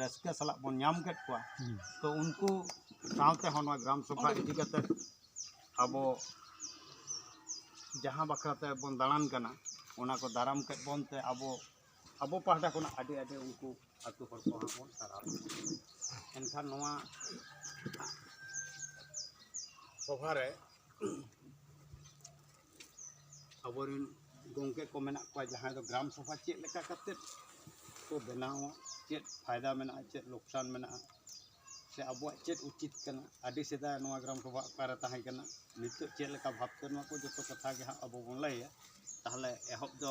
ᱨᱟᱹᱥᱠᱟᱹ ᱥᱟᱞᱟᱜ ᱵᱚᱱ ᱧᱟᱢ ᱠᱮᱫ ᱠᱚᱣᱟ ᱛᱚ ᱩᱱᱠᱩ ᱥᱟᱶᱛᱮ ᱦᱚᱸ ᱱᱚᱣᱟ ᱜᱨᱟᱢ ᱥᱚᱵᱷᱟ ᱤᱫᱤ ᱠᱟᱛᱮ ᱟᱵᱚ ᱡᱟᱦᱟᱸ ᱵᱟᱠᱷᱨᱟ ᱛᱮᱵᱚᱱ ᱫᱟᱬᱟᱱ ᱠᱟᱱᱟ ᱚᱱᱟ ᱠᱚ ᱫᱟᱨᱟᱢ ᱠᱮᱫ ᱵᱚᱱ ᱛᱮ ᱟᱵᱚ ᱟᱵᱚ ᱯᱟᱦᱴᱟ ᱠᱷᱚᱱᱟᱜ ᱟᱹᱰᱤ ᱟᱹᱰᱤ ᱩᱱᱠᱩ ᱟᱛᱳ ᱦᱚᱲ ᱠᱚ ᱦᱚᱸ ᱵᱚᱱ ᱥᱟᱨᱦᱟᱣ ᱮᱱᱠᱷᱟᱱ ᱱᱚᱣᱟ ᱥᱚᱵᱷᱟ ᱨᱮ ᱟᱵᱚ ᱨᱮᱱ ᱜᱚᱢᱠᱮ ᱠᱚ ᱢᱮᱱᱟᱜ ᱠᱚᱣᱟ ᱡᱟᱦᱟᱸᱭ ᱫᱚ ᱜᱨᱟᱢ ᱥᱚᱵᱷᱟ ᱪᱮᱫ ᱞᱮᱠᱟ ᱠᱟᱛᱮ ᱠᱚ ᱵᱮᱱᱟᱣᱟ ᱪᱮᱫ ᱯᱷᱟᱭᱫᱟ ᱢᱮᱱᱟᱜᱼᱟ ᱪᱮᱫ ᱞᱳᱠᱥᱟᱱ ᱢᱮᱱᱟᱜᱼᱟ ᱥᱮ ᱟᱵᱚᱣᱟᱜ ᱪᱮᱫ ᱩᱪᱤᱛ ᱠᱟᱱᱟ ᱟᱹᱰᱤ ᱥᱮᱫᱟᱭ ᱱᱚᱣᱟ ᱜᱨᱟᱢ ᱥᱚᱵᱷᱟ ᱚᱠᱟᱨᱮ ᱛᱟᱦᱮᱸ ᱠᱟᱱᱟ ᱱᱤᱛᱚᱜ ᱪᱮᱫ ᱞᱮᱠᱟ ᱵᱷᱟᱵᱽᱛᱮ ᱱᱚᱣᱟ ᱠᱚ ᱡᱚᱛᱚ ᱠᱟᱛᱷᱟ ᱜᱮ ᱦᱟᱸᱜ ᱟᱵᱚ ᱵᱚᱱ ᱞᱟᱹᱭᱟ ᱛᱟᱦᱚᱞᱮ ᱮᱦᱚᱵ ᱫᱚ